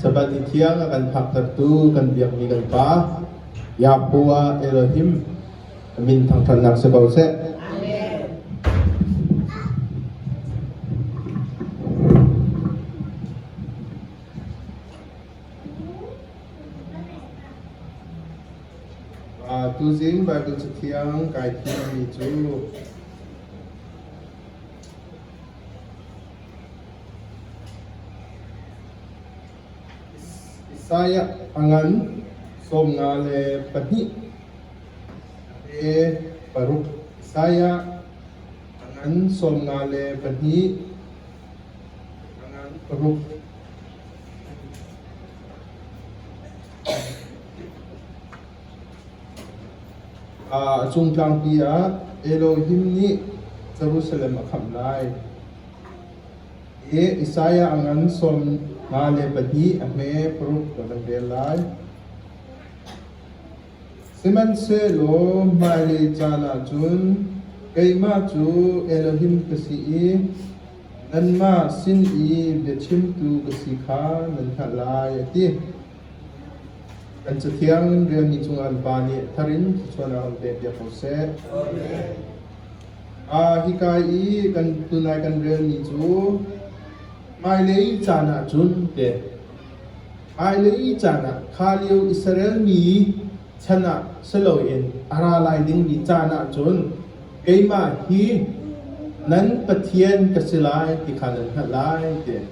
Sabbath ni thiang a kan phaktertu kan biakmi kan Pa, Yahpu ah Elohim a min thangṭhatnak si ko seh. Uh, tuzing Bible Cathiang kai thimmi cu Isaiah a ngan sawmnga le pahnih a pe paruk. Isaiah a ngan sawmnga le pahnih a ngan paruk. A cungtlangpi ah Elohim nih Jerusalem a khamh lai i Isaiah a ngan sawm nga le pahnih a hme paruk kan rak rel lai. Sihmanhsehlaw hmailei caan ah cun keimah cu Elohim ka si i nanmah sin i biachimtu ka si kha nan hngalh lai, a ti. Kan Cathiang rialmi cungah mipa nih thar in thluachuan a run pek piak ko seh. Ah, hika i kan tunai kan relmi cu hmailei caan ah cun teh hmailei caan ah kha lio Israel mi chan ah si loin a ra lai dingmi caan ah cun keimah hi nan Pathian ka si lai ti kha nan hngalh lai tiah.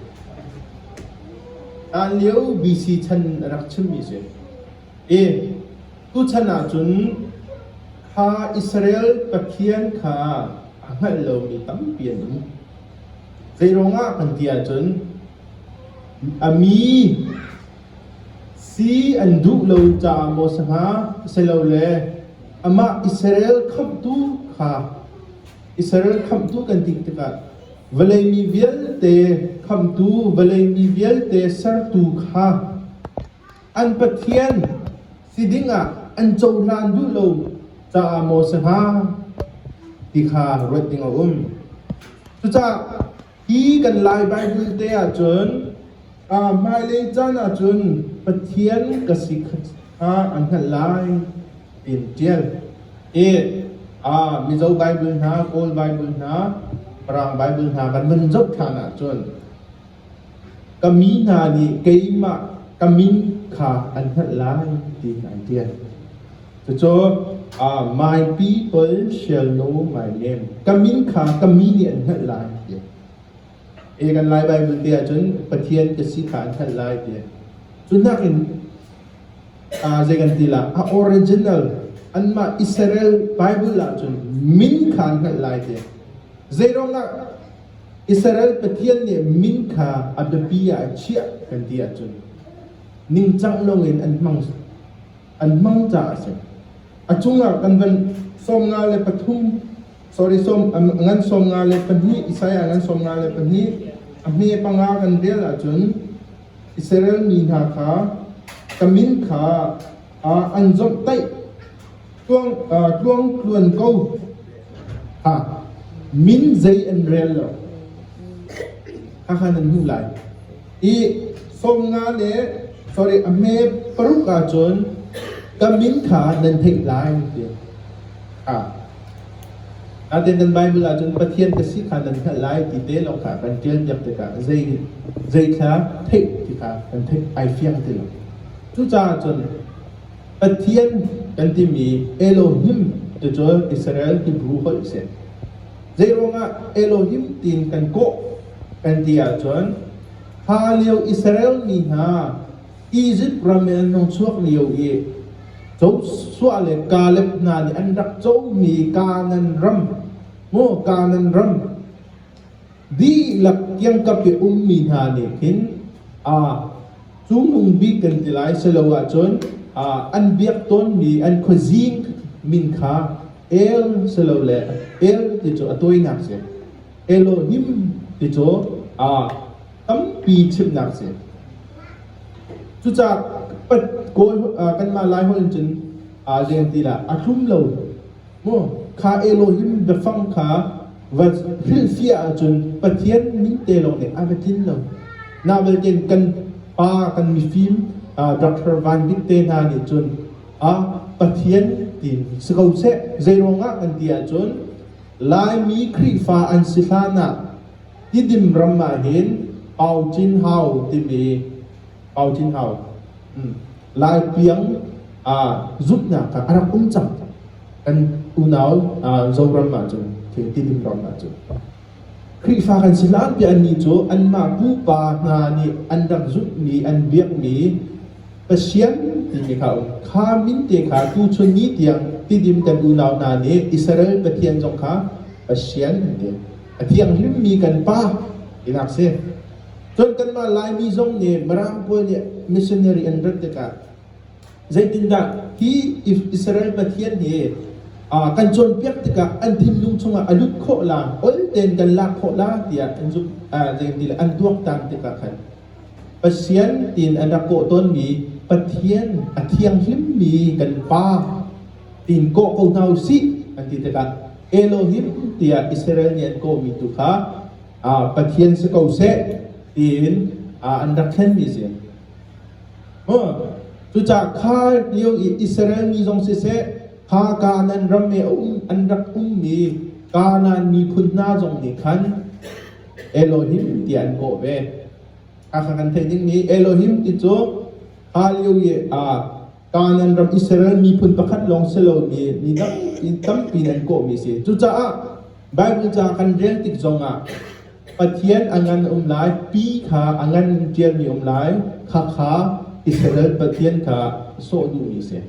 Hlan lio BC chan a rak chimmi a si. E, tuchan ahcun kha Israel Pathian kha a hngalh lomi tampi an um. Zeiruangah kan ti ahcun a mi si an duh lo caah maw si hnga, silole amah Israel khamhtu kha i ser khamhtu kan dih tikah vawlei mi vialte khamtu vawlei mi vialte sertu kha an Pathian si dingah an cohlan duh lo caah maw si hnga ti kha ruat ding a um. Cucaah Hi kan Lai Baibal te ahcun hmailei caan ahcun Pathian ka si kha an hngalh lai ti in ṭial. Hi Mizo Baibal hna, Kawl Baibal hna, Mirang Baibal hna kan vun zoh ṭhan ahcun ka mi hna nih keimah ka min kha an hngalh lai ti hna an ṭial. Cucu maipi pal sialno mai nem ka min kha ka mi nih an hngalh lai tiah e kan lai Baibal te ahcun Pathian ka si kha an hngalh lai tiah cu hnak in zei kan ti la a original anmah Israel Bible ahcun min kha an hngalh lai tiah zeiruangah Israel Pathian nih min kha a biapi ah a chiah kan ti ahcun ningcang longin an hmang an hmang caah a si. A cungah kan van sawm nga le pathum sorry sawm ngan sawm nga le pahnih Isaiah ngan sawm nga le pahnih a hme panga kan vel ahcun Israel mi hna kha ka min kha an zomhtaih tluang tluang tluan ko ha min zei an rel lo khakha nan hmuh lai Hi som nga le sorry a hme paruk ahcun ka min kha nan theih lai tiah a natein nan Baibal ahcun Pathian ka si kha nan hngalh lai ti te lawng kha kan ṭialpiak tikah zei zeithla theih ti kha kan theih ai fiang ti lo. Cucaah cun Pathian kan timi Elohim ti cu Israel Hebrew holh a si. Zei ruangah Elohim tiin kan kawh An ti ahcun hla lio Israel mi hna Izipt ram in an hung chuak lio i Joshua le Kaleb hna nih an rak comi Kanaan ram, maw Kanaan ram, dihlak kiangkap i a ummi hna nih khin aa cungnung bik kan ti lai silo ahcun aa an biak tawnmi an khuazing min kha El silole El ti cu a tawinak a si. Elohim ti cu ah tampi chimnak si. Cucah kanmah lai holh in cun aa leng ti lah a tlum lo mu kha Elohim biafang kha va hrilhfiah ahcun Pathian min te lawng nih a va tlin lo na belte kan pa kan mifim Dr. Van Bik te hna nih cun a Pathian ti si ko seh zeiruangah kan ti ahcun Laimi Khrihfa an si hlanah tidim ram ahhin Hau Cin Hau timi Hau Cin Hau hmm, Lai tiang aa zumhnak kha a rak um cang. Kan unau aa, Zoram ahcun tidim ram ahcun. Khrihfa kan si hlan piah annih cu anmah pupa hna nih an rak zumhmi an biakmi Pathian timi kha kha minte kha tuchun ni tiang tidim kan unau hna nih Israel Pathian zong kha Pathian an ti. A thianghlimmi kan pa tinak si. Cun kanmah Laimi zong nih Mirang pawl nih missionary an rat tikah zeitindah hi Israel Pathian hi uh, kan cawnpiak tikah an thinlung chungah a lut khawh la, ol ten kan lak khawh la tiah an zumh, uh, zeitin an tuaktan tikah khan Pathian tin an rak kawh tawnmi Pathian a thianghlimmi kan Pa tin kawh ko hna u sih an ti tikah Elohim tiah Israel nih an kawhmi tu kha Pathian si ko seh tiin an rak thlenmi a si. Cucaah kha lio i Israel mi zong siseh, kha Kanaan ram i an rak ummi Kanaan miphun hna zong nih khan Elohim tiah an kawh ve. A kha kan theih dingmi Elohim ti cu hlan lio i ah Kanaan ram Israel miphun pakhat lawng si lomi mi tampi in an kawhmi a si. Cucaah Baibal ca kan rel tik zongah Pathian a ngan a um lai, pi kha a ngan ṭialmi a um lai, khakha Israel Pathian kha sawh duhmi a si.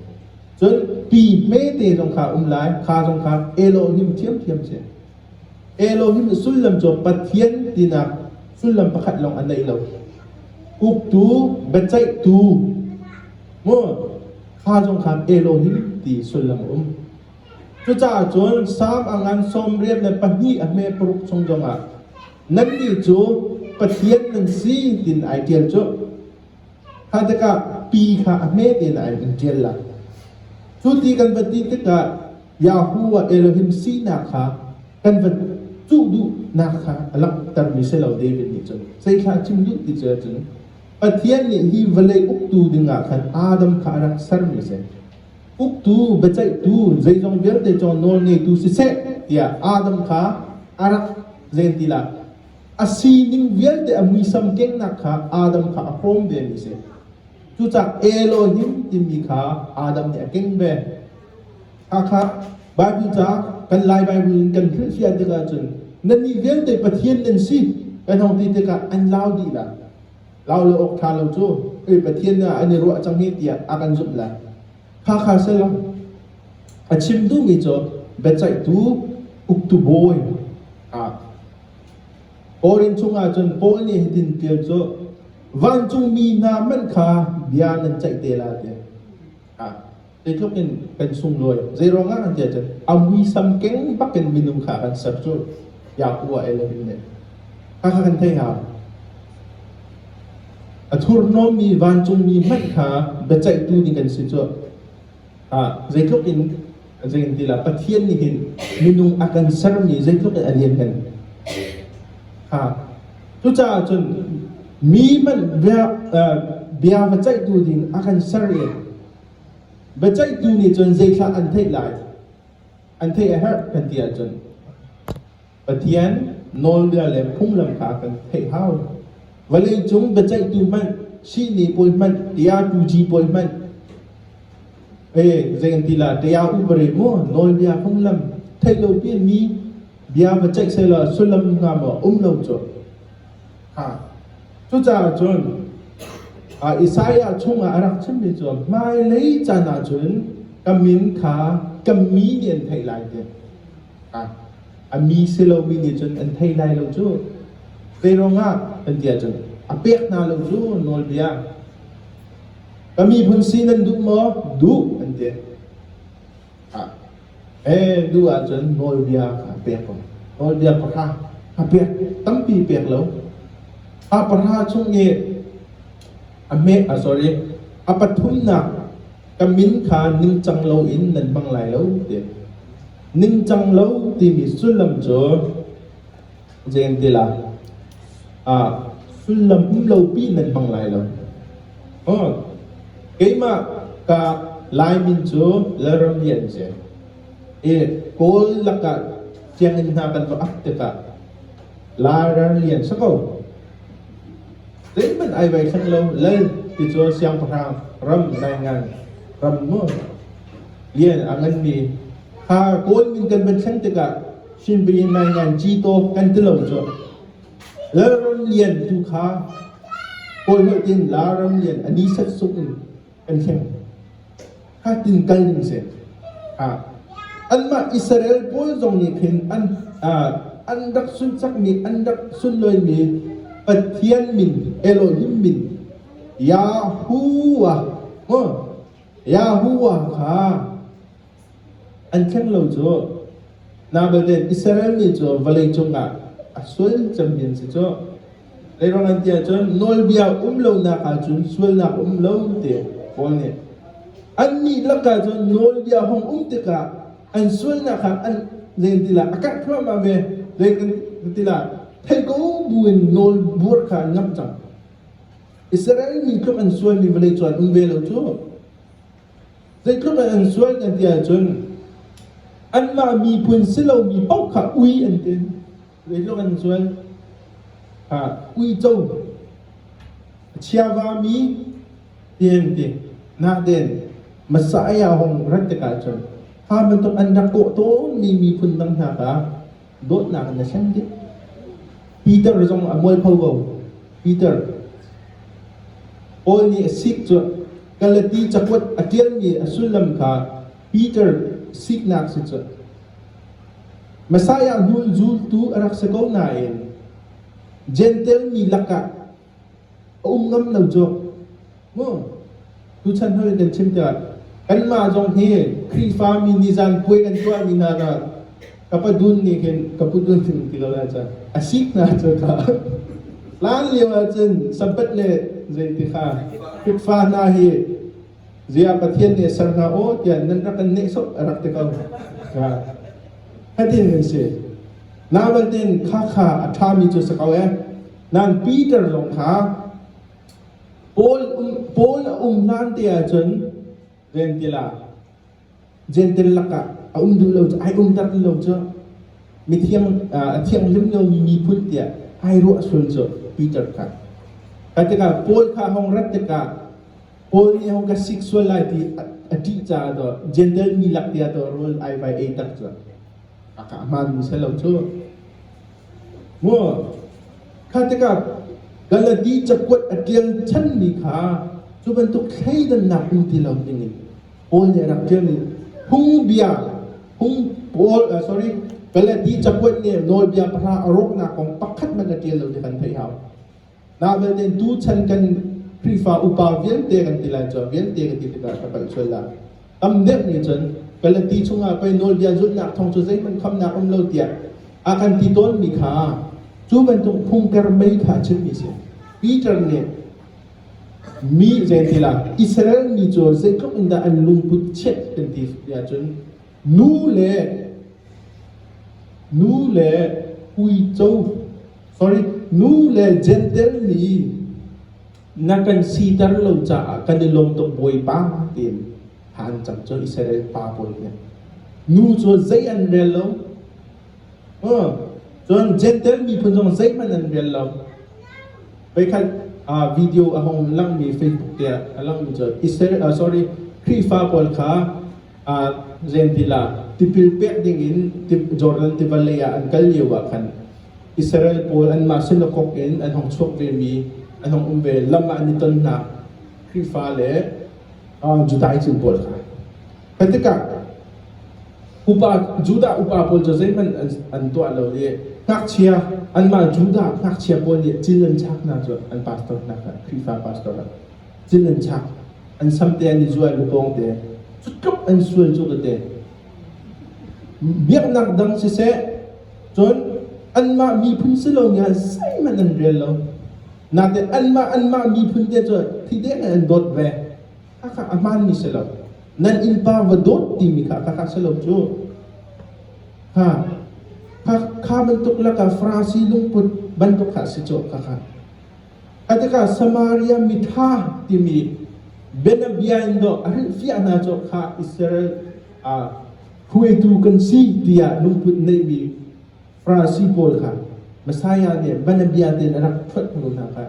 Cun pi hmete zong kha a um lai, kha zong kha Elohim ṭhiamṭhiam a si. Elohim sullam cu Pathian tinak sullam pakhat lawng a neih lo. Uktu, biaceihtu, mu, thla zong khan Elohim ti sullam a um. Cucaah cun Salm a ngan sawmriat le pahnih a hme paruk chung zongah nannih cu Pathian nan si tiin ai ṭial cu. Thadek ah pi kha a hme tein a in ṭial lai. Cu ti kan van ti tikah Yahoo ah Elohim sinak kha kan van cuh duhnak kha a langhtermi si lo David nih cun zeithla a chim duh ti cu ahcun Pathian nih hi vawlei uktu dingah khan Adam kha a rak sermi a si. Uktu, biaceihtu, zeizong vialte cu nawl ngeitu siseh tiah Adam kha a rak zen ti lai. a sining vialte a muisam kengnak kha Adam kha a hrawm vemi a si. Cucak Elohim timi kha Adam nih a keng ve. Hakha Bible ca kan Lai Bible in kan hrilhfiah tikah cun nannih vialte Pathian nan si kan hong ti tikah an lau dih la. Lau le awk ṭha lo cu, eh Pathian ah an i ruah cang hi tiah a kan zumh lai. Hakha sal a chim duhmi cu biaceihtu uktu bawi ah Paul inn chungah cun Paul nih hitin ṭial cu vancungmi hna hmanh kha bia nan ceih te la tiah ah zeitluk in kan sunglawi zeiruangah nan tiah cun a muisam keng bak in minung kha a kan ser cu Yakuba el a hun leh Hakha kan thei hau. A thurhnawmmi vancungmi hmanh kha biaceihtu ding an si cuah. Ah, zeitluk in zeitintilah Pathian nih hin minung a kan sermi zeitluk in a lianngan ha cucaah cun mi hmanh bia bia va ceihtu ding a kan ser i biaceihtu nih cun zeithlah an theih lai an theih a herh kan ti ahcun Pathian nawlbia le phunglam kha kan theih hau. Vawleicung biaceihtu hmanh, sihni bawi hmanh, tia tuji bawi hmanh, eh zei an ti la tia u bare mu nawlbia phunglam theih lo pi mi bia va ceih sela sullam nga maw um lo cu ha cucaah cun Isaiah chungah a rak chimmi cu hmailei caan ah cun ka min kha ka mi nih an theih lai tiah A mi si lomi nih cun an thei lai lo cu. Zeiruang ah kan ti ahcun a pek hna lo cu nawlbia. Ka miphun si nan duh maw? Duh an ti. Ee, duh ahcun nawlbia kha a pek ko. Nawlbia pahra a pek tampi pek lo. A pahra chung i a hme, sorry, a pathumnak ka min kha ningcang loin nan hmang lai lo ti. Ningcang lo timi sullam cu Gentila ah sullam um lopi nan hmang lai lo. Oh, keimah ka laimin cu Lalram Lian ce. I Kawl lakah sianginn hna kan va ak tikah Larar lian sako. Zeihmanh ai vai thleng lo lal tichuan siangpahrang ram nai ngan ram mu lian a ngan mi kha kawl min kan van thleng tikah shinpin nai ngan chi to kan ti lo cu lalram lian tu kha kawi holh tin laram lian ani sat suk in kan siang. Ha tin kal ding si. Ha. Anmah Israel pawl zong nih khin an an rak sunsakmi an rak sunloimi Pathian min Elohim min Yahuwah Yahuwah kha An thleng lo cu nau belte Israel mi cu vawlei cungah a sual cemmi an si cu. Zeiruangah ti ahcun nawlbia um lonak ahcun sualnak um lo ti Paul nih annih lakah cun nawlbia hong um tikah an sualnak kha an zei ti lah a karh thluahmah ve. Zei kan ti lah theih ko buin nawl buar kha an ngamh cang. Israel mi tluk an sualmi vawlei cu an um ve lo cu. Zeitluk an sual kan ti ahcun anmah miphun si lomi paoh kha ui an ti. Zeitluk an sual ha uico chiavami den ti na den masa aya hong rat tikah cun ha bantuk an rak kawh tawnmi miphun dang hna kha dawtnak in a thlen dih. Peter zong a mualpho ko. Peter, Paul nih a sik cu Galati cakuat a ṭialmi a sullam kha Peter siknak si cu Messiah hnu'n zultu a rak si ko nain Jentail mi lakah A um ngam lo cu. Tuchan hoi kan chim tiah kanmah zong hi Khrihfami nih zanpuai kan tuahmi hna hna ka pa dun nih khin ka pu dun sin ti lo lai cu. A sik hna cu ka. Hlan lio ahcun Sabbath le zeiti kha Khrihfa hna hi ziah Pathian nih a ser hna aw tiah nan rak kan nehsawh a rak ti ko. Fatin kan si. Nabantin khakha a ṭhami cu si ko ee. Nan Peter zong kha Paul, Paul a um hlan te ahcun ventil ah Gentil lakah a um duh lo cu ai umter ti lo cu mi thiang a thianghlim lomi miphun tiah ai ruah sul cu Peter kha ka tikah Paul kha hong rat tikah Paul nih hong ka sik sual lai ti a ṭih caah to Gentil mi lak tiah to rawl ai vai ei tak cu a kah hmanmi se lo cu Kha tikah Galati cakuat a ṭial chanmi kha cu bantuk thleidannak um ti lo dingin Paul nih a rak ṭial i phungbia phung Paul sorry Galati cakuat nih nawlbia pahra a rawknak kong pakhat hmanh a ṭial lo ti kan theih hau. Nah belte tu chan kan Khrihfa upa vialte kan ti lai cu vialte kan ti tikah ka palh sual dah. Tam deuh nih cun Galati chungah pei nawlbia zulhnak thawng cu zeihmanh khamnak um lo tiah a kan ti tawnmi kha cu bantuk phungter mei kha a chimmi a si. Peter nih mi zei ti la Israel mi cu zeitluk in dah an lungput chiat kan ti ahcun Nu le Jentail nih na kan siter lo caah kan i lawm tuk Bawipa tiin ha an cam. Cun Israel pa pawl nih nu cu zei an rel lo. Cun Jentail miphun zong zeihmanh an rel lo. Voikhat video a hung langmi Facebook tiah a langmi cu Israel sorry Khrihfa pawl kha Zenpilah tipil pek dingin Jordan tiva lei ah an kal lio ah khan Israel pawl anmah sinakok in an hong chuak vemi an hong um ve lam ah an i tonnak Khrihfa le Judah cin pawl kha kan tikah upa Judah upa pawl cu zeihmanh an tuah lo i ngakchia anmah Judah ngakchia pawl nih cin an chak hna cu an pastor hna kha Khrihfa pastor ah Cun an chak. An samte an i zuai bu pawng te. Cu tluk an sual cu ka te. Biaknak dang siseh, cun anmah miphun si lo nia zeihmanh an rel lo. Nate anmah anmah miphun te cu thi deng in an dawt ve. Khakha a hmaan mi si lo. Nan innpa va dawt timi kha khakha si lo cu. Ha. Kha, kha bantuk laka Farasi lungput bantuk kha si cu khakha. A tikah Samaria mitha timi bianabia in dawh a hrilhfiah hna cawk kha Israel ah hruaitu kan si tiah lungput neihmi Farasi pawl kha Messiah nih bianabia tein a rak phuat hnu hna kha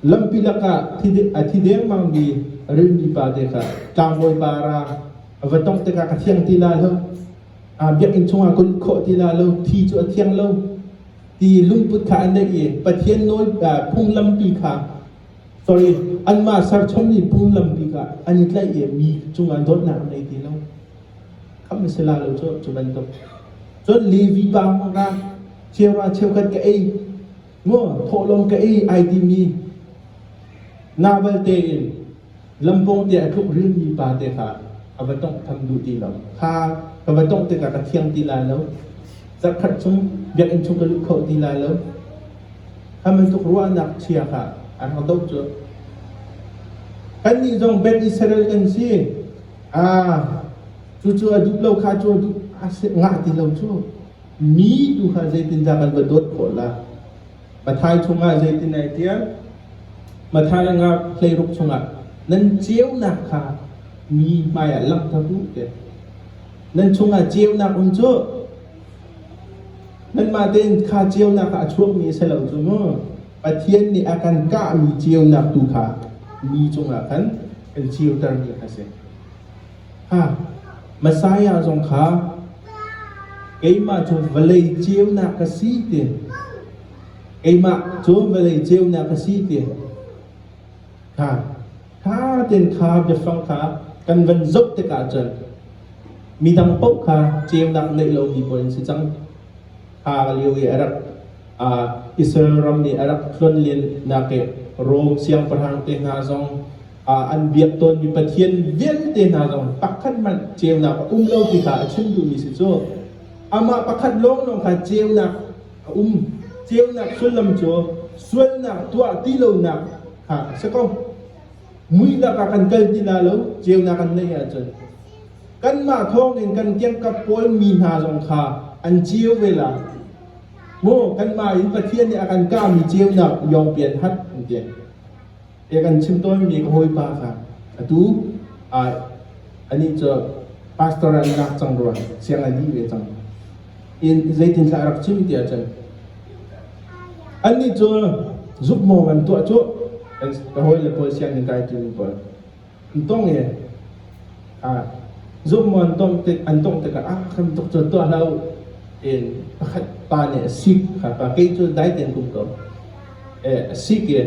lampi lakah a thi dengmangmi rilmi pa te kha tlangbawi para a va tongh tikah ka thiang ti lai lo aa biakinn chungah ka lut khawh ti lai lo thi cu a thiang lo Ti lungput kha an neih i Pathian nawl phunglampi kha sorry anmah serchommi phunglampi kha an i tlaih i mi cungah dawtnak an ngei ti lo. Khamh a si la lo cu cu bantuk. Cun Levi pa ra cheuva cheukhat ka ei ngo thawhlawm ka ei ai timi na balte in Lampung te a tluk rilmi pa te kha ka va tawnghtham duh ti lo. Kha ka va tongh tikah ka thiang ti lai lo. Zarkhat chung biakinn chung ka lut kho ti lai lo. Kha bantuk ruahnak chia kha an rak doh cu. Kannih zong Ben Israel kan si. Ah, cu cu a duh lo kha cu a duh a si ngah ti lo cu. Mi tu kha zeitindah kan va dawt khawh la? Matthai chungah zeitin ai tial? Matthai nga hleiruk chungah nan ceunak kha mi hmaiah langhter u tiah. Nan chungah ceunak um cu nanmah tein kha ceunak kha a chuakmi a si lo cu mu. Pathian nih a kan kahmi ceunak tu kha mi cungah khan kan ceutermi a si. Messiah zong kha keimah cu vawlei ceunak ka si ti keimah cu vawlei ceunak ka si ti kha ṭha tein kha biafang kha kan van zoh tikah cun midang paoh kha ceunak neih lomi paoh an si cang. Kha lio i a rak Israel ram i a rak tluan liannak i Rom siangpahrang te hna zong an biak tawnmi pathian vialte hna zong pakhat hmanh ceunak a um lo ti kha a chim duhmi si cu amah pakhat lawnglawng kha ceunak a um ceunak sullam cu sualnak tuah ti lonak kha a si ko muihnak ah kan kal ti la lo ceunak an neih ahcun kanmah thawngin kan kiangkap pawl mi hna zong kha an ceu vela mu kanmah in pathian nih a kan kahmi ceunak yongpian hat an ti Ka kan chim tawnmi ka hawipa kha atu anih cu pastor ah an lak cang rua siang a dih ve cang in zeitin thlah rak chim tiah cun annih cu zukmaw an tuah cu ka hawi le pawl sianginn kai tu pawl Ntong e zummuan tongh tik an tongh tikah ah khan tuk cu tuah hlah u in pakhat pa nih a sik kha pa kei cu dai tein kum ko a sik e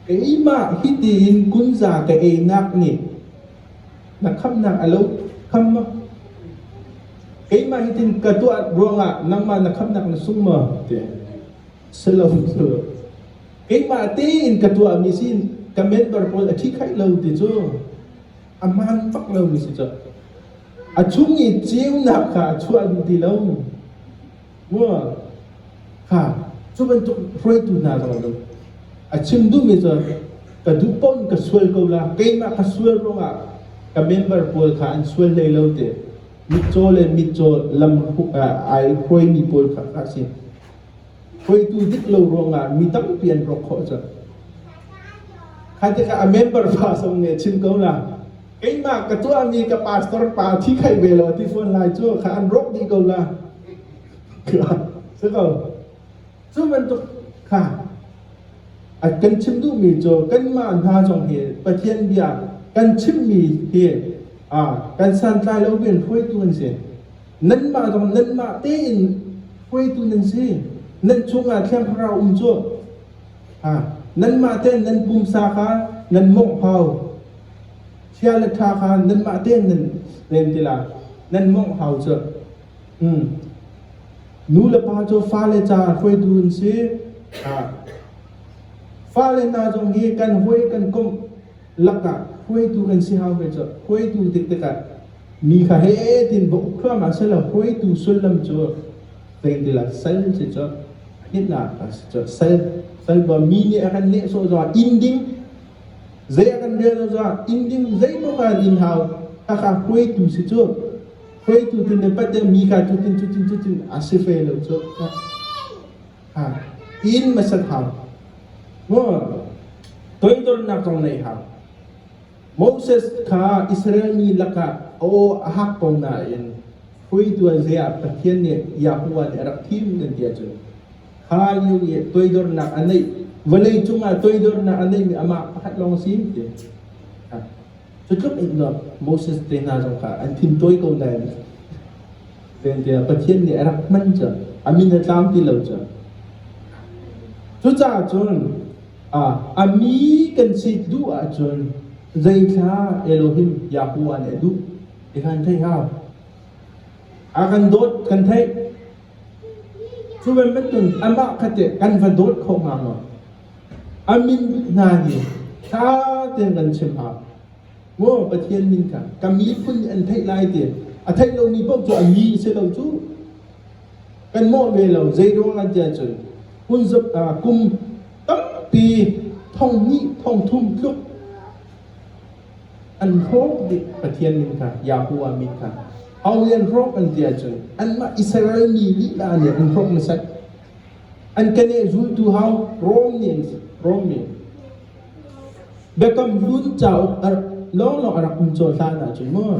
keimah hiti in kunza ka einak nih na khamnak a lo kham maw keimah hitin ka tuah ruangah nangmah na khamnak na sung maw ti si lo cu keimah tein ka tuahmi sin ka member pawl a thi khaih lo ti cu a hmaan bak lomi si cu a chung i ceunak kha a chuah duh ti lo mu kha cu bantuk hruaitu hna zong cu a chim duhmi cu ka duh paoh ka sual ko la keimah ka sual ruangah ka member pawl kha an sual hlei lo ti mitcaw le mitcaw lam ai hruaimi pawl kha kha a si. hruaitu dik lo ruangah mi tampi an rawk khawh cu. Kha tikah a member pa zong nih a chim ko na, keimah ka tuahmi ka pastor pa thi khai ve lo ti fawn lai cu kha an rawk dih ko la. Si ko. Cu bantuk kha a kan chim duhmi cu kanmah hna zong hi Pathian bia kan chimmi hi ah kan santlai lo bin hruaitu an si. Nanmah zong nanmah tein hruaitu nan si. Nan chungah Thiang Thlarau um cu. Ha, nanmah tein nan pumsa kha nan monghau. Chia le ṭha kha nanmah tein nan rem ti la, nan monghau cu. Hmm. Nu le pa cu fale ca hruaitu an si. Ha. Fale hna zong hi kan hawi kan komh. lakah hruaitu kan si hau ve cu hruaitu tik tikah mi kha he tin va uk thluahmah sela hruaitu sullam cu zeitil ah sal si cu hnitnak ah si cu sal sal va mi nih a kan neh sawh zong in ding zei a kan rial lo zong in ding zeipaoh ah in hau khakha hruaitu si cu hruaitu tin le pat mi ka cu tin cu tin cu tin a si ve lo cu Inn masal hau. Toidornak kong nei hau. Moses kha Israel mi lakah aw a hak ko nain hruituan zia Pathian nih Yahuwah nih a rak thim nan ti ahcun kha lio i toidornak a neih vawlei cungah toidornak a neihmi amah pakhat lawng a si ti. Cutluk in cun Moses te hna zong kha an thin tawi ko nain vente Pathian nih a rak hman cu a min a tlang ti lo cu. Cucaah cun a mi kan si duh ahcun zeithla Elohim Yahweh nih a duh ti kan theih hau. A kan dawt kan theih. Cuvel bantuk amah khatte kan va dawt kho hnga maw? A minbik hna nih ṭha tein kan chim hna. Maw Pathian min kha ka miphun nih an theih lai ti a theih lomi paoh cu a mi si lo cu. Kan mawh ve lo. Zeiruangah tiah cun hmun zop ah kum tampi thong hnih thong thum tluk an hrawk dih Pathian min kha Yahuwah min kha a rian hrawk an ti ahcun anmah Israel mi lila nih an hrawk hmasat an kene zultu hau Rom nih an si Rom mi Biakam hlun cauk lawnglawng a rak um caw hlan ahcun maw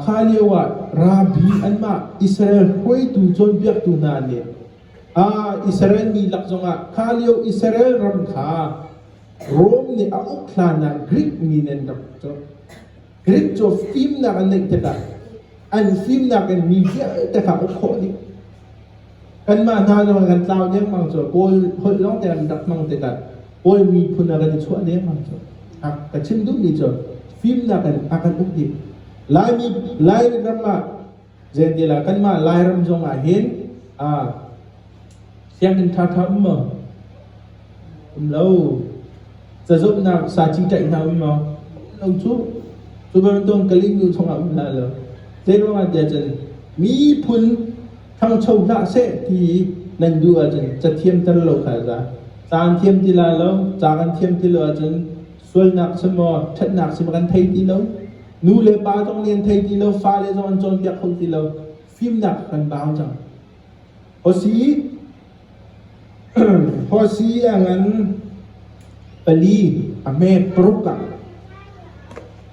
kha lio ah rabi anmah Israel hruaitu cawnpiaktu hna nih Israel mi lak zongah kha lio Israel ram kha Rom nih a uk hlanah Greek mi nih an rak cu. Greek cu fimnak an neih tikah an fimnak in mi vialte kha uk khawh dih. Kanmah hna zong kan tlau dengmang cu Kawl holh lawng te an rak hmang tikah Kawl miphun a kan i chuah dengmang cu. A ka chim duhmi cu fimnak in a kan uk dih. Laimi Lai ram ah Zeitilah kanmah Lairam zongah hin ah sianginn thatha um maw? Um lo. Cazumhnak saci tlaih hna um maw? Um lo cu. Cu bantuk Kalingu chungah um hlah law. Zei ruangah tiah cun miphun thangcho hlah seh ti nan duh ahcun cathiam tel lo kha za. Caan thiam ti la lo, ca kan thiam ti lo ahcun sualnak si maw ṭhatnak si maw kan thei ti lo nu le pa zong nih an thei ti lo fale zong an cawnpiak kho ti lo fimnak kan bau cang hosi hosi angan pali ame paruk ah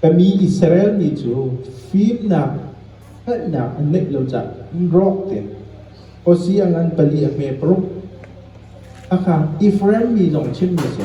kami Israel mi cu fimnak hngalhnak an neih lo cah in rawk te hosi angan pali ame paruk aka Ephraim mi zong chim mi si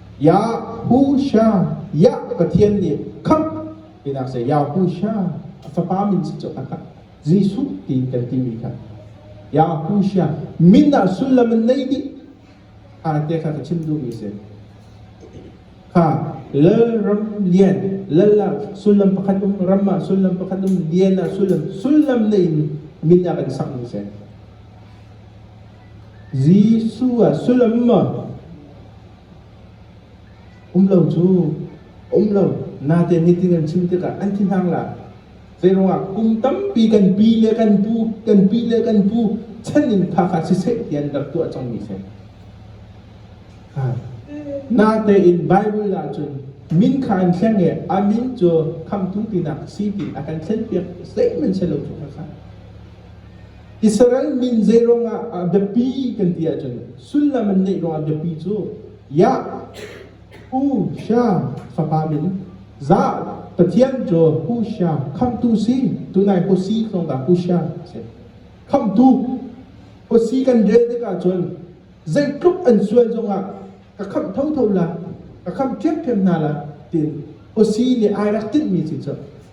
Yahusha, Yah Pathian nih khamh pinak seh Yahusha a fapa min cu a khat Jesuh ti kan timi kha Yahusha min ah sullam in nei dih te kha ka chim duhmi si kha lal ram lian lal ah sullam pakhat um ram ah sullam pakhat um lian ah sullam sullam nei in min ah kan sakmi si Jesuh ah sullam maw? Um lo cu, um lo. Nate meeting an chim tikah an ti hna la. Zeiruangah kum tampi kan pi le kan pu, kan pi le kan pu chan in phak ah siseh ti an rak tuah cangmi si. Ha. Nate in Bible ahcun min kha an thleng i a min cu khamhtu tinak si ti a kan thlen piak. Zeihmanh si lo cu khakha. Israel min zeiruang ah a biapi kan ti ahcun sullam an ngeih ruangah biapi cu Yah, Hu Siang fapa min, Zah Pathian cu Hu Siang khamtu si tunai Hu Si tlawng dah Hu Siang a si khamtu Hu Si kan rel tikah cun zeitluk an sual zongah ka khamh thotho la ka khamh ṭhiamṭhiam hna la tiin Hu Si nih ai rak tinhmi si cu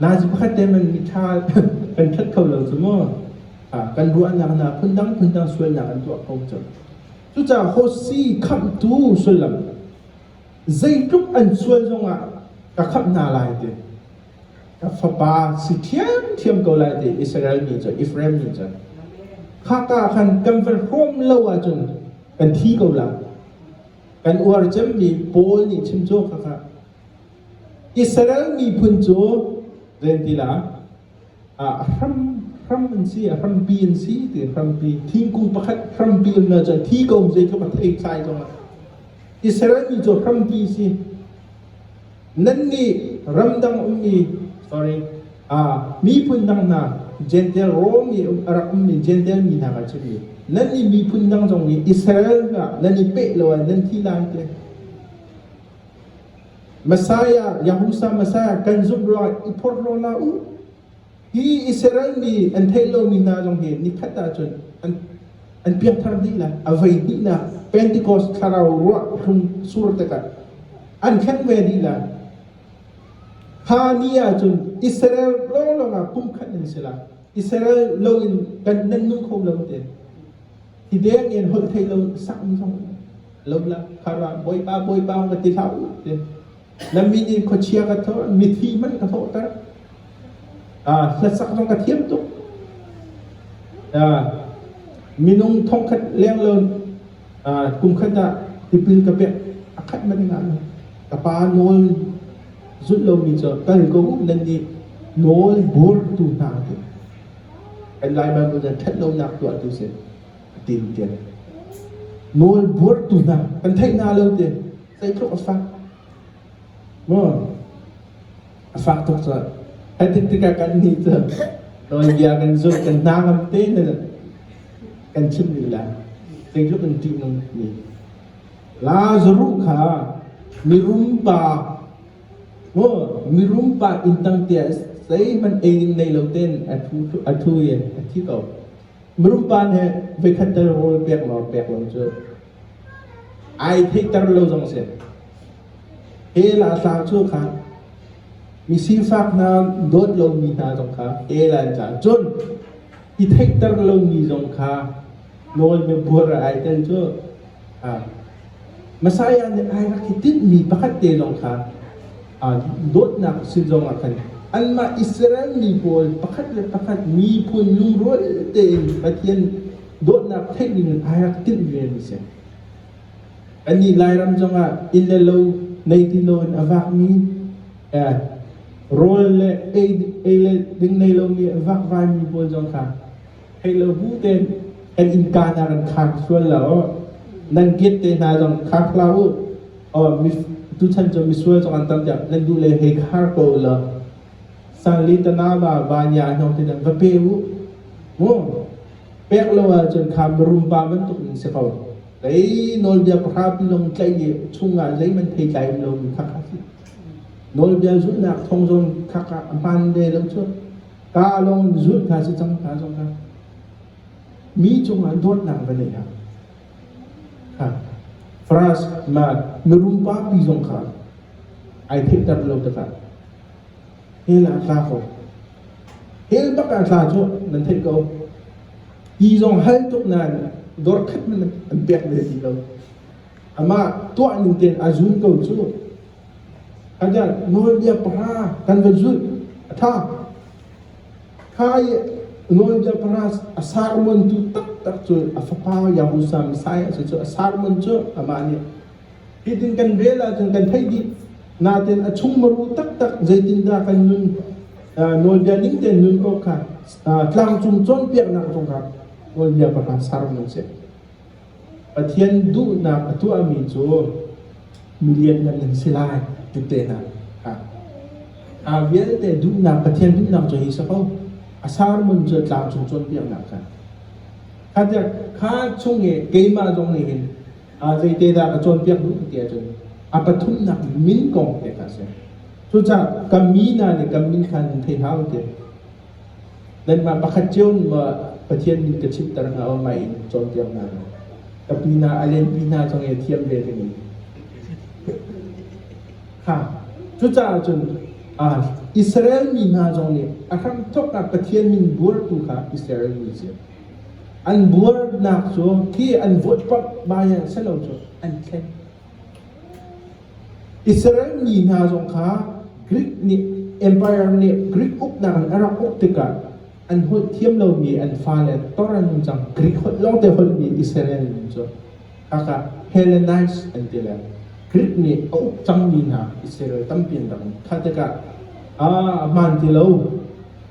Lai cu pakhat te in miṭha kan ṭhat kho lo cu maw? Kan ruahnak hna phundang phundang sualnak an tuah kho cang. Cucaah Hosi khamhtu sullam zeitluk an sual zongah ka khamh hna lai ti, ka fapa si ṭhiamṭhiam ko lai ti Israel mi cu Efraim mi cu khaka khan kan van hrawm lo ahcun kan thi ko lai. Kan uar cemmi Paul nih chim cu khakha. Israel miphun cu ven ti la ah hram hram an si a hrampi an si ti hrampi thingkung pakhat hrampi an na cu thi ko zei tluk a thei thlai zong ah Israel mi cu hrampi si nan nih ramdang ummi sorry ah miphun dang hna Gentile Rome nih a rak ummi Gentile mi hna ka si mi nan nih miphun dang zong nih Israel hna nan i peh lo ah nan thi lai te Messiah, Yahusa Messiah, kan zumh ruangah i phorhlaw hlah u. Hi Israel mi an theih lomi hna zong hi nikhat ahcun an, an piangthar hnih lai. A voi hnihnak Pentecost thlarau ruah hlung sur tikah an khen ve dih lai. Kha ni ahcun Israel lawnglawng ah pumkhat nan si lai. Israel loin kan nan nung kho lo te. Tideng in holh theih lo sakmi zong lo la. Khara Bawipa Bawipa ka ti hlah u ti. Na min in khuachia ka thawh, mithi man ka thawhter. Ah, hlasak zong ka thiam tuk. Ah, minung thongkhat leng lo ah, kum khat ah tipil ka pek a khat man nga lo. Ka pa nawl zulh lomi cu kal ko u nan nih nawl burtu hna te. Kan Lai Bible nan ṭhat lonak tuahtu si a ti lu tian. Nawl buartu hna kan theih hna lo te zeitluk a fak. Maw a fak tuk cu. Hai tik tikah kan nih cu nawlbia kan zulh kan hna ngam te ne kan chim ni la. Zeitluk kan ṭih nung ni. Lazaruh kha mirum pa Maw mirum par inn tangtea zeihmanh ei ning nei lo tein a thu i a thi ko. Mirum pa nih voikhat tal rawl pek lawr pek lo cu ai theihter lo zong si. He la tla cu kha misifak hna dawt lomi hna zong kha he la in cah cun i theihter lomi zong kha Nawl biabuar a ai ten cu Messiah nih ai rak i tinhmi pakhat te lawng kha dawtnak si zongah khan anmah Israel mi pawl pakhat le pakhat miphun lungrual tein Pathian dawtnak theih dingin ai rak tinh vemi si. Anih Lairam zongah inn le lo nei ti loin a vakmi rawl le ei le ding nei lomi a vakvaimi pawl zong kha theih lo bu tein kan innka hna kan khang sual lo. Nan giat te hna zong khang hlah u. Tuchan cu misual zong an tam tiah nan duh le hei khar ko u law sanli tanama vanya hnong te va pe u mu pek lo ahcun kha marum pa bantuk in si ko lei nawlbia pahra pi long tlaih i chung ah zeiman thei tlai um lo mi khak ha si nawlbia zulhnak thong zong khak ah a hman ve lo cu Ka lawng in zulh hna si cang hna zong kha mi cung ah dawtnak va nei ha ha France ma mirum papi zong kha ai theihter lo takah hela tla ko hel baka tla chu nan thei ko hi zong hal tuk nan dor khat nan an pek ve ti lo ama tuah ning ten azum ko chu Adelh nawlbia pahra kan van zulh. A ṭha. Kha i nawlbia pahra a sermontu taktak cu a fapa Yahushua Messiah cu a sermon cu amah nih hitin kan vel ahcun kan theih dih. Natin a chung maru taktak zeitindah kan nun nawlbia ning tein nun awk kha tlangcung cawnpiaknak zong kha nawlbia pahra sermon a si. Pathian duhnak a tuahmi cu mi lianngan an si lai tete hna. A vialte duhnak, Pathian duhnak cu hi si ko. A sermon cu a tlangcung cawnpiaknak kha. Kha tiah kha chung i keimah zong nih hin zeite dah ka cawnpiak duh ti ahcun a pathumnak min kong te kha a si. Cucaah ka mi hna nih ka min kha nan thei hau ti. Nanmah pakhat cio mah Pathian min ka chimhter hna aw mah in cawnpiak hna. Ka pinah a lenpi hna zong i a thiam ve ding in. Ha, cucaah cun ah Israel mi hna zong nih a hramthawk ah Pathian min buartu kha Israel mi si. An buarnak cu khi an vote pamh bai ah si lo cu an thleng. Israel mi hna zong kha Greek nih empire nih Greek uknak in a rak uk tikah an holh thiam lomi an fale tor an nung cang. Greek holh lawngte holhmi Israel mi cu khaka Hellenized an ti le Greek nih a uk cangmi hna Israel tampi an rak um. Kha tikah a hmaan ti lo.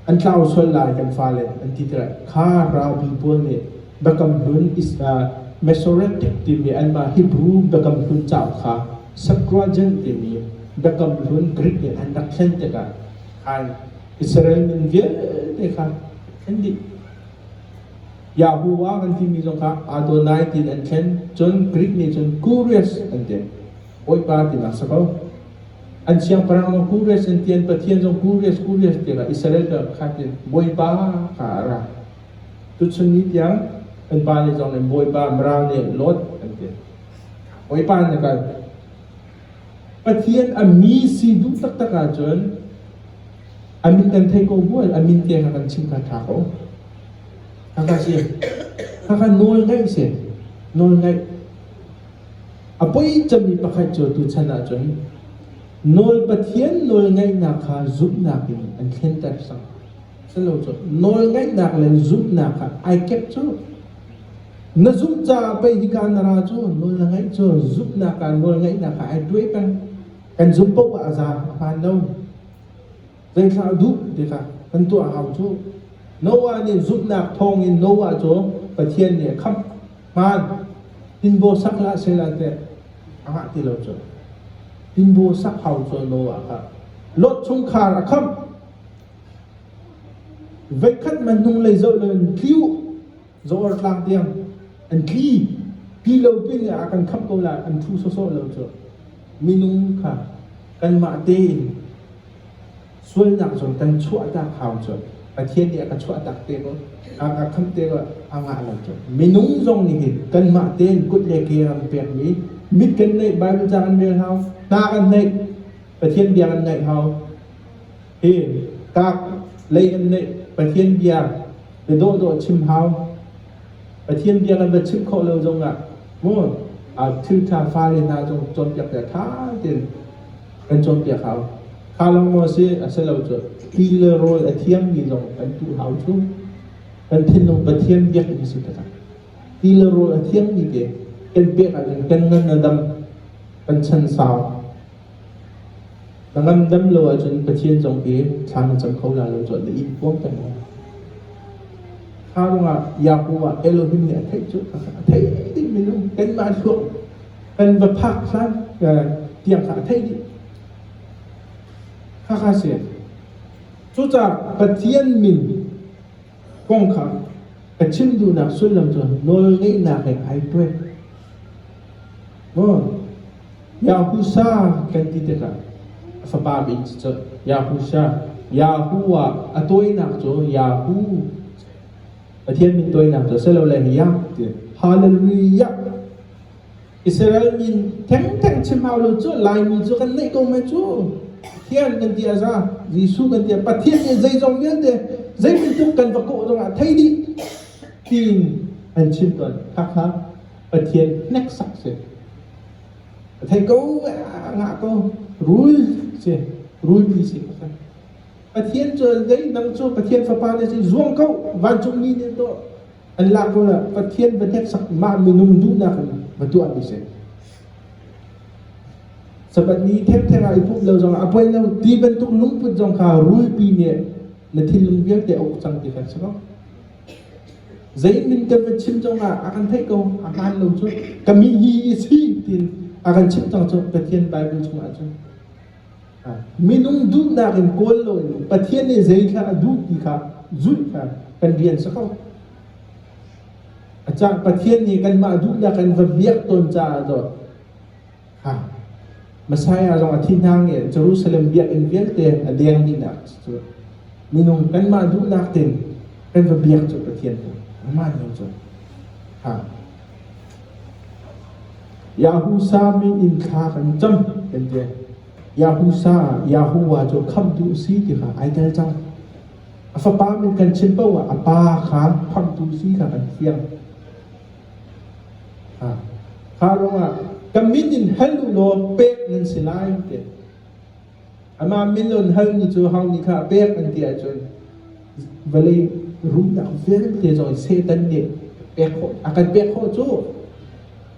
An tlau sual lai kan fale an ti tikah kha ralpi pawl nih Biakam Hlun Masoretic timi anmah Hebrew Biakam Hlun cauk kha Septuagint timi Biakam Hlun Greek nih an rak thlen tikah ai Israel min vialte kha thlen dih. Yahuwah kan timi zong kha Adonai tiin an thlen cun Greek nih cun Kurios an ti. Bawipa tinak si ko. An siangpahrang Kures an tian Pathian zong Kures Kures tiangah Israel ka khat in Bawipa ka a ra. Tuchun ni tiang an pa le zong nih Bawipa mral ne Lot an tian. Bawipa na kal. Pathian a mi si duh taktak ahcun amin kan thei ko bual amin tiang kan chim kha tha ko. Kha kha si. Kha kha nawl ngaih si. Nawl ngaih A poi cangmi pakhat cu tuchan ahcun nawl Pathian nawlngaihnak kha zumhnak in an thlenter cang. Silo cu nawlngaihnak le zumhnak kha ai kep cu. Na zumh caah pei hika na ra cu nawl na ngaih cu zumhnak ah nawlngaihnak kha ai tuai peng. Kan zumh paoh ah a za a hmaan lo. Zei thlah a duh ti kha kan tuah hau cu. Noah nih zumhnak thawngin Noah cu Pathian nih a khamh hmaan tinbaw sak hlah sehla teh a ngah ti lo cu. Tinbaw sak hau cu Noah kha Lot chungkhar a khamh. Veikhat man hnung lei zoh lo in tliu Zoar tlak tiang an tli tli lo pin le a kan khamh ko la kan thu sawsawh lo cu minung kha kanmah tein sualnak zong kan chuah tak hau cu Pathian nih a ka chuah tak te ko a ka khamh te ko a ngah lo cu minung zong nih hin kanmah tein kut le ke ram pekmi mit kan neih Bible ca kan rel hau hna kan neih Pathian bia kan ngaih hau Hi kak lei an neih Pathian bia bia dawhdawh chim hau. Pathian bia kan va chimh khawh lo zong ah mu thiltha fale hna cu cawnpiak te tha tein kan cawnpiak hau. Kha long maw si a si lo cu ti le rawl a thiang mi zong kan tu hau cu. Kan thinlung Pathian biak in si takah. Ti le rawl a thiang mi te kan pek ahcun kan ngan a dam kan chan sau. Ka ngamdam lo ahcun Pathian zong hi thla na cam kho lai lo cun na in puang peng lai. Kha ruangah Yahuwah Elohim nih a theih cu a theih dihmi lo. Kanmah thluak kan va phak hlan tiang kha a theih dih. Khakha si. Cucaah Pathian min kong kha ka chim duhnak sullam cu nawl ngeihnak he ai tuai. Maw Yahusha kan ti tikah a fapa min cu cun Yahusha. Yahu ah a tawinak cu Yahu, Pathian min tawinak cu silole Yah ti Hallelujah. Israel min thengtheng chim hau lo cu Laimi cu kan neih ko mai cu. Pathian kan ti a za, Jesuh kan ti a Pathian nih zeizong vialte zei bantuk kan va kawh zongah thei dih tiin an chim tawn. Khakha. Pathian hneksak si. A thei ko ngah ko rul si rulpi si ka san. Pathian cu zei nang cu Pathian fapa na si zuang ko vancung ni ne to an la ko la Pathian va hneksak ma minung duhnak in ma tuah mi si. Sapat ni thekthek ah i pup lo zong a poi lo ti bantuk lungput zong kha rulpi nih na thinlung vialte a uk cang ti kan si ko. Zei in Mintem a chim zong ah a kan theih ko, a hmaan lo cu. Ka mihi a si tiin a kan chimh cang cu Pathian Bible chung ahcun. Minung duhnak in kawl loin Pathian nih zeithla a duh ti kha zulh kha kan rian si ko. A cang Pathian nih kanmah duhnak in va biak tawn caah dawt Messiah zong a thih hna nge Jerusalem biakinn vialte a deng dihnak cu minung kanmah duhnak tein kan va biak cu Pathian nih amah nih cun ha Yahusa min in thla kan cam kan ti Yahusa Yahuwa cu khamtu si ti kha ai tel cang a fapa min kan chim poah a pa kha khamtu si kha kan thiang Kha ruangah ka min in hal u law pek nan si lai tiah amah min on halmi cu hau nih kha a pek an ti ahcun vawlei rumnak vialte cu Satan nih pek khawh a kan pek khawh cu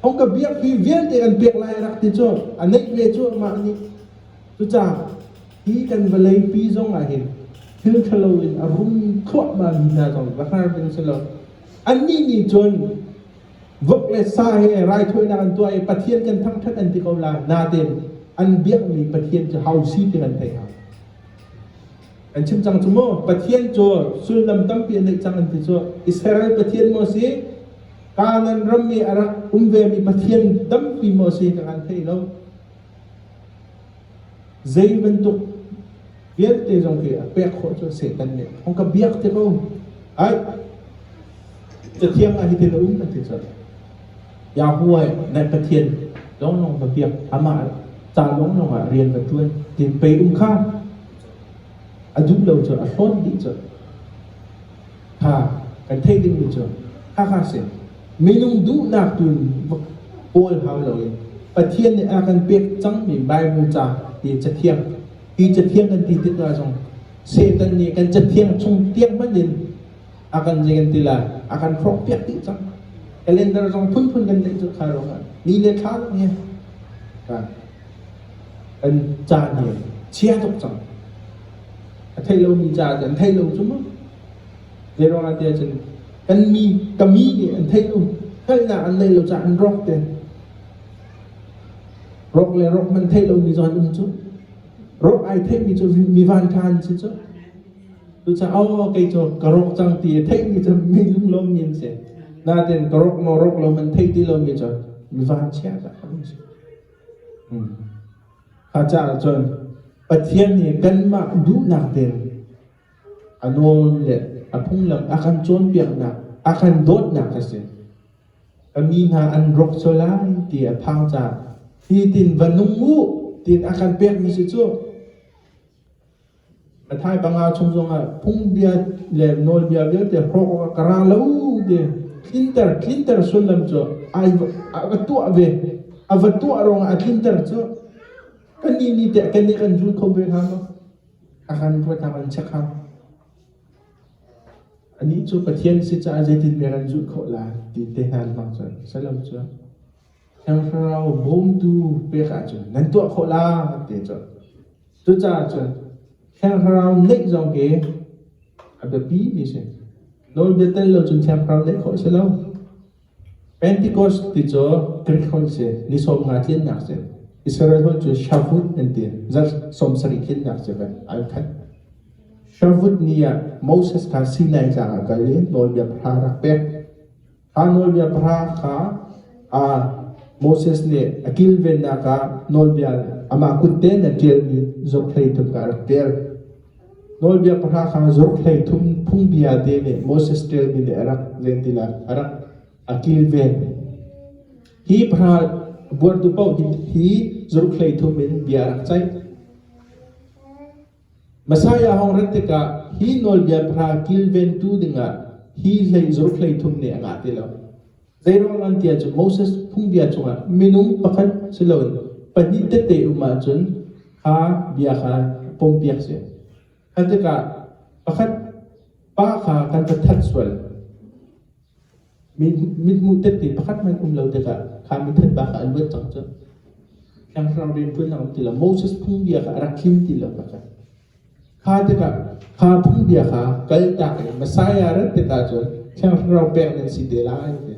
hong ka biakmi vialte kan pek lai a rak ti cu a neih ve cu amah nih cucaah hi kan vawlei pi zong ah hin thil ṭhalo in a rum thluahmahmi hna zong va hngar ding si lo Annih nih cun vok le sa he raithawinak an tuah i Pathian kan thangṭhat an ti ko lai. Natein an biakmi Pathian cu hau si ti kan theih hna. An chim cang cu maw Pathian cu sullam tampi a neih cang an ti cu Israel Pathian maw si Kanaan ram i a rak um vemi Pathian tampi maw si ka kan thei lo. Zei bantuk vialte zong khi a pek khawh cu Satan nih a hong ka biak ti ko. Ai, Cathiang ah hitin a um an ti cun Yahweh naih Pathian lawnglawng va biak, amah ca lawnglawng ah rian va ṭuan ti pei um kha a duh lo cu a hlawt dih cu. Kha kan theih dingmi cu Hakha si minung duhnak tu in pawl hau loin Pathian nih a kan pek cangmi Bible ca hi cathiang hi cathiang kan ti tikah zong Satan nih kan cathiang chung tiang hmanh in a kan zei kan ti lai a kan hrawk piak dih cang kalendar zong phunphun kan tlaih cu kha ruangah ni le thla zong hi kan caan hi chia tuk cang a theih lomi caah cun an theih lo cu mu. Zeiruangah tiah cun kan mi ka mi nih an theih lo hngalhnak an neih lo caah an rawk te. Rawk le rawk man theih lomi zawn um cu. Rawk ai theihmi cu mi van ṭhan si cu. Cucaah kei cu ka rawk cang ti i theihmi cu mi lunglawmmi an si. Natin ka rawk maw rawk lo man theih ti lomi cu mi van chia tak an si. Hmm. Kha caan ah cun Pathian nih kanmah duhnak ding a nawl le a phunglam a kan cawnpiaknak, a kan dawtnak a si. Ka mi hna an rawk sual lai ti a phang caan, hitin va nung u tiin a kan pekmi si cu A thai panga chung zongah phungbia le nawlbia vialte hrawk awkah ka ra lo ti tlinter tlinter sullam cu ai a va tuah ve a va tuah ruangah a tlinter cu kannih nih teh keneh kan zul kho ve hnga maw a kan ruatnak in check ha anih cu Pathian si caah zeitin meh kan zulh khawh lai ti te hnan hmang cu salam cu Thiangthlarau bawmtu pek ahcun nan tuah khawh lai ti a cuanh. Cucaah cun Thiangthlarau neih zong hi a biapi mi a si. Nawlbia tel lo cun Thiangthlarau neih khawh a si lo. Pentecost ti cu Greek holh si, ni sawm nga tliannak si. Israel holh cu Shavuot an ti, zarh sawm sarih tliannak si kan ai khat. Shavuot ni ah Moses kha Sinai tlang ah kal i nawlbia pahra rak pek. Kha nawlbia pahra kha aa Moses nih a kilvennak ah nawlbia amah kutte in a ṭialmi zohhlei thum kha a rak ṭial. Nawlbia pahra kha zohhlei thum phungbia te nih Moses ṭialmi nih a rak zei ti lai a rak a kilven. Hi pahra buartu paoh hi hi zohhlei thum in bia a rak ceih. Messiah hong rat tikah hi nawlbia pahra kilventu dingah hi hlei zaruk hlei thum nih a ngah ti lo. Zeiruang an tiah cu Moses phungbia chungah minung pakhat si loin pahnih tete um ahcun kha bia kha pompiak si. Kha tikah pakhat pa kha kan va that sual. Mithmuh tette pakhat hmanh um lo tikah kha mithat pa kha a luat cang cu. Tlanghram rian ṭuan a um ti lo. Moses phungbia kha a rak him ti lo pakhat. Kha tikah kha phungbia kha kaltak in Messiah rat tikah cun Thiangthlarau pek nan si te lai ti.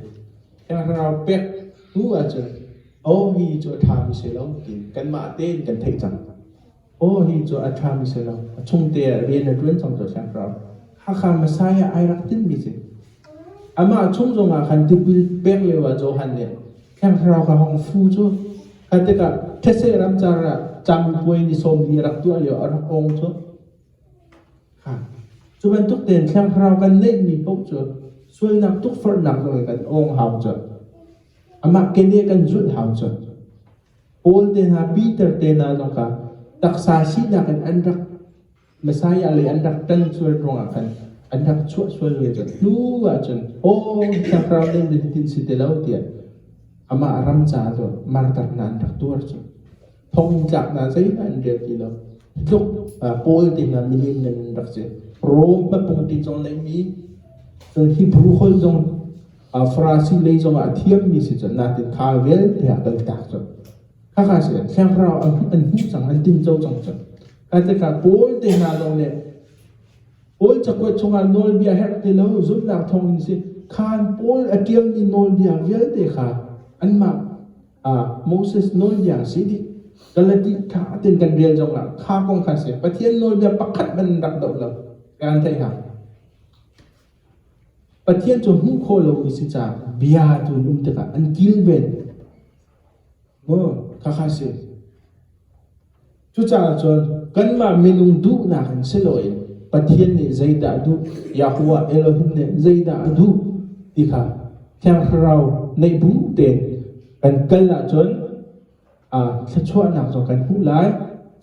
Thiangthlarau pek hnu ah cun omi cu a ṭhami si lo ti kanmah tein kan theih cang. Aw hi cu a ṭha mi si lo, a chungte ah rian a ṭuan cang cio hramhram. Hakha Messiah ai rak tinhmi si. Amah chung zongah khan tipil pek lio ah Johan nih Thiang Thlarau ka hong fu cu kha tikah thetse ramcar ah campuai ni sawmli a rak tuah lio a rak ong cu. Ha. Cu bantuk tein Thiang Thlarau kan neihmi paoh cu sualnak tukforhnak zongin kan ong hau cu. Amah keneh kan zulh hau cu. Paul te hna, Peter te hna zong kha taksa sinak in an rak Messiah lei an rak ṭan sual ruangah khan an rak chuah sual ve cang. Hnu ahcun, aw, thlakrau nan dintin si ti lo tiah amah ram caah cun martarnak an rak tuar cang. Thongtlak hna zeihmanh an rial ti lo. Hi tluk Paul te hna milian nan an rak si. Rom papung ti zong leimi Hebrew holh zong Farasi lei zongah a thiammi si cun natin kha vialte ah kal tak cun. Khakha si thlenghrau an hmuh cang, an tinzo cang cun. Ka tika Paul te hna zong le Paul cakuat chungah nawlbia herh te lo zumnak thawng in si khan Paul a tiammi nawlbia vialte kha anmah Moses nawlbia si dih Galati kha atin kan rial zongah kha kong kha si Pathian nawlbia pakhat ban rak doh lo kan thei ha Pathian cu hmuh khawh lomi si caah bia cu an um tikah an kilven. Maw khakha a si. Cucaah cun kanmah minung duhnak in si loin Pathian nih zeidah a duh, Yahuwah Elohim nih zeidah a duh ti kha Thiang Thlarau neih bu tein kan kal ahcun thluachuahnak zong kan hmuh lai,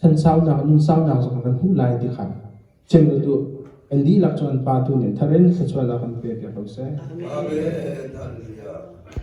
thansaunak, nunsaunak zong kan hmuh lai ti kha Cem u tuah. An dihlak cu an pa tu nih tharin thluachuahnak an pek i hro seh. Amen. Amen.